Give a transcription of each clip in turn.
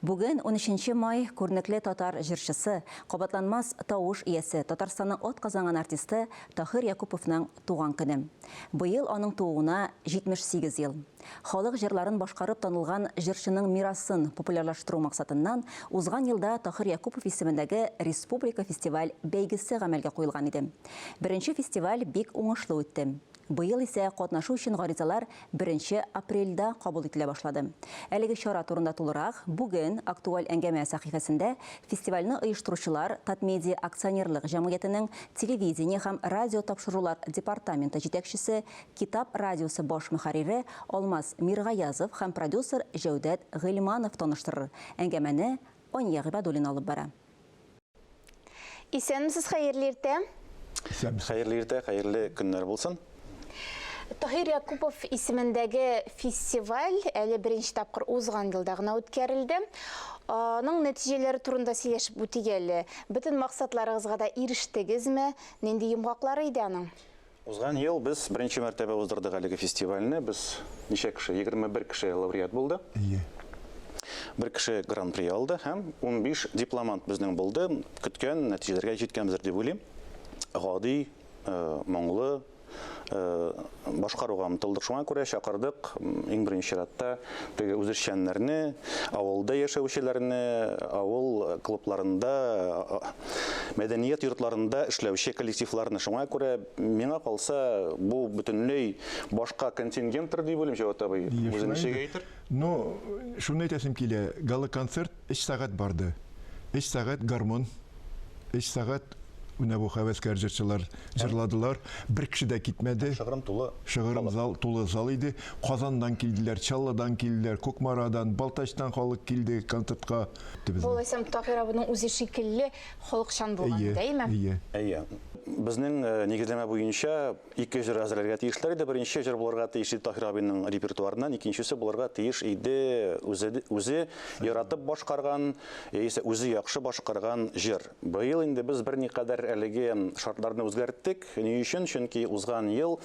Бүген, унөченче май, күренекле татар җырчысы, кабатланмас тавыш иясе, Татарстанның атказанган артисты Таһир Якуповның туган көне. Быел аның тууына 78 ел. Халык җырларын башкарып танылган җырчының мирасын популярлаштыру максатыннан узган елда Таһир Якупов исемендәге республика фестиваль-бәйгесе гамәлгә куелган иде. Беренче фестиваль бик уңышлы үтте. Быел исә катнашу өчен гаризалар беренче апрельдә кабул ителә башлады. Әлеге чара турында тулырак бүген Актуаль әңгәмә сәхифәсендә фестивальне оештыручылар Татмедиа акционерлык җәмгыятенең телевидение һәм радиотапшырулар департаменты җитәкчесе, Китап радиосы баш мөхәррире Алмаз Миргаязов һәм продюсер Җәүдәт Гыйльманов таныштырыр. Әңгәмәне Ания Гыйбадуллина алып бара. Исәнмесез, хәерле иртә. Исәнмесез. Хәерле иртә, хәерле көннәр булсын. Таһир Якупов исемендәге фестиваль әле беренче тапкыр узган елда гына үткәрелде. Аның нәтиҗәләре турында сөйләшеп үтик әле. Бөтен максатларыгызга да ирештегезме? Нинди йомгаклары иде аның? Узган ел без беренче мәртәбә уздырдык әлеге фестивальне. Без ничә кеше, егерме бер кеше лауреат булды. Әйе. Бер кеше гран-при алды һәм унбиш дипломант безнең булды. Көткән нәтиҗәләргә җиткәнбездер дип уйлыйм. Гади, моңлы башкаруга омтылдык. Шуңа күрә чакырдык, иң беренче чиратта, Теге үзешчәннәрне, авылда яшәүчеләрне, авыл клубларында, мәдәният йортларында эшләүче коллективларны. Шуңа күрә миңа калса, бу бөтенләй башка контингенттыр дип уйлыйм, Җәват абый. Үзе ничек әйтер? Ну, шуны әйтәсем килә, гала-концерт Өч сәгать барды. Өч сәгать гармун, өч сәгать менә бу хәвәскәр җырчылар җырладылар. Бер кеше дә китмәде. Шыгрым тулы. Шыгрым зал, тулы зал иде. Казаннан килделәр, Чаллыдан килделәр, Кукмарадан, Балтачтан халык килде концертка. Булайса, Таһир абыйның үзе шикелле халыкчан булган, дәйме? Әйе. Әйе. Безнең нигезләмә буенча, Ике җыр әзерләргә тиешләр иде. Беренче җыр булырга тиеш иде Таһир абыйның репертуарыннан, икенчесе булырга тиеш иде үзе, үзе яратып башкарган, яисә үзе яхшы башкарган җыр. Быел инде без берникадәр әлеге шартларны үзгәрттек. Ни өчен? Чөнки узган ел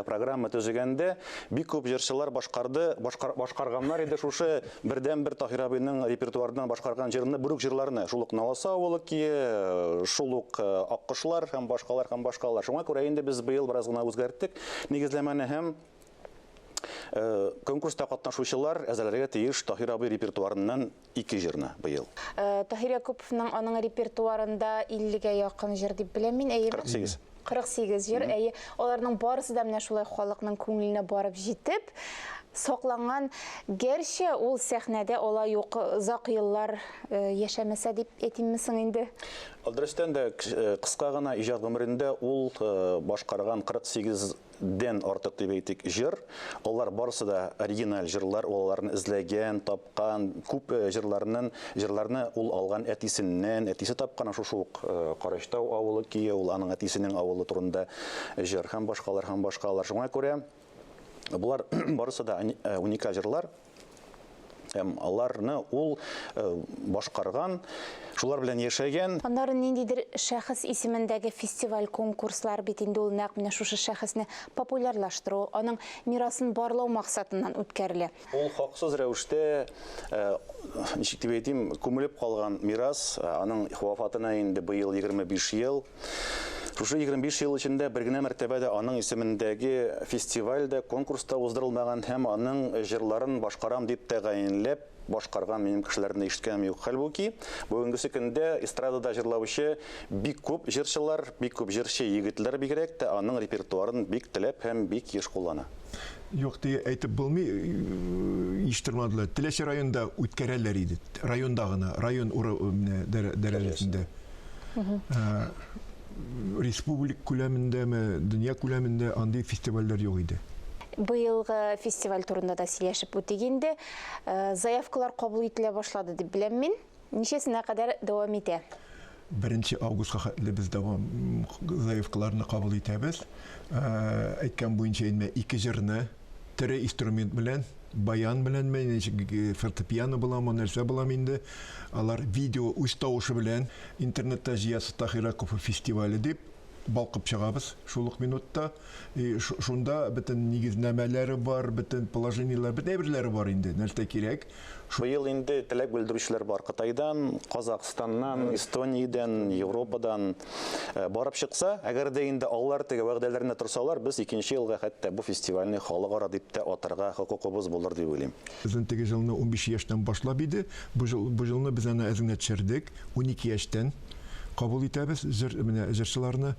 программа төзегәндә бик күп җырчылар башкарды, башкар, башкарганнар иде шушы Бердәнбер Таһир абыйның репертуарыннан башкарган җырны, бүрек җырларны, шул ук Наласа авылы кие, шул ук э, Аккошлар һәм башкалар һәм башкалар. Шуңа күрә инде без быел бераз гына үзгәрттек нигезләмәне һәм э, конкурста катнашучылар әзерләргә тиеш Таһир абый репертуарыннан ике җырны быел. Э, Таһир Якуповның аның репертуарында 50-гә якын җыр дип беләм мин, әйеме? 48. 48 җыр, әйе. Аларның барысы да менә шулай халыкның күңеленә барып җитеп, сакланган. Гәрчә ул сәхнәдә алай ук озак еллар э, яшәмәсә дип әйтимме соң инде? Дөрестән дә кыска гына иҗат гомерендә ул э, башкарган 48 дән артык дип әйтик җыр. Алар барысы да оригиналь җырлар, ул аларны эзләгән, тапкан, күп э, җырларның җырларны ул алган әтисеннән, әтисе тапкан шушы ук э, Карачтау авылы көе, ул аның әтисенең авылы турында җыр һәм башкалар һәм башкалар. Шуңа күрә Болар барысы да э, уникаль җырлар. һәм аларны ул э, башкарган, шулар белән яшәгән. Аннары ниндидер шәхес исемендәге фестиваль-конкурслар бит инде ул нәкъ менә шушы шәхесне популярлаштыру, аның мирасын барлау максатыннан үткәрелә. Ул хаксыз рәвештә, э, ничек дип әйтим, күмелеп калган мирас, э, аның вафатына инде быел 25 ел. Шушы 25 ел эчендә бер генә мәртәбә дә аның исемендәге фестиваль дә, конкурс та уздырылмаган һәм аның җырларын башкарам дип тәгаенләп башкарган минем кешеләрне дә ишеткәнем юк. Хәлбуки, бүгенгесе көндә эстрадада җырлаучы бик күп җырчылар, бик күп җырчы егетләр бигрәк тә аның репертуарын бик теләп һәм бик еш куллана. Юк дип әйтеп булмый, еш тормадылар. Теләче районда үткәрәләр иде. Районда гына, район дәрәҗәсендә. Э, республик күләмендәме, дөнья күләмендә андый фестивальләр юк иде. Быелгы фестиваль турында да сөйләшеп үтик инде. Э, заявкалар кабул ителә башлады дип беләм мин. Ничәсенә кадәр дәвам итә? Беренче августка хәтле без дәвам заявкаларны кабул итәбез. Э, әйткән буенча инде ике җырны тере инструмент белән, баян беләнме, фортепиано буламы, нәрсә булам инде, алар видео үз тавышы белән интернетта Зиясы Таһираков фестивале дип балкып чыгабыз шул ук минутта. И шунда бөтен нигезнәмәләре бар, бөтен положениеләре, бөтен әйберләре бар инде, нәрсә кирәк. Шул ел инде теләк белдерүчеләр бар. Кытайдан, Казахстаннан, Эстониядән, Европадан э, барып чыкса, әгәр дә инде алар теге вәгъдәләренә торсалар, без икенче елга хәтта бу фестивальне халыкара дип тә атарга хокукыбыз булыр дип уйлыйм. Безнең теге җылны унбиш яшьтән башлап иде. Бу җыл, бу җылны без әнә әз генә төшердек. Унике яшьтән кабул итәбез җыр, менә җырчыларны.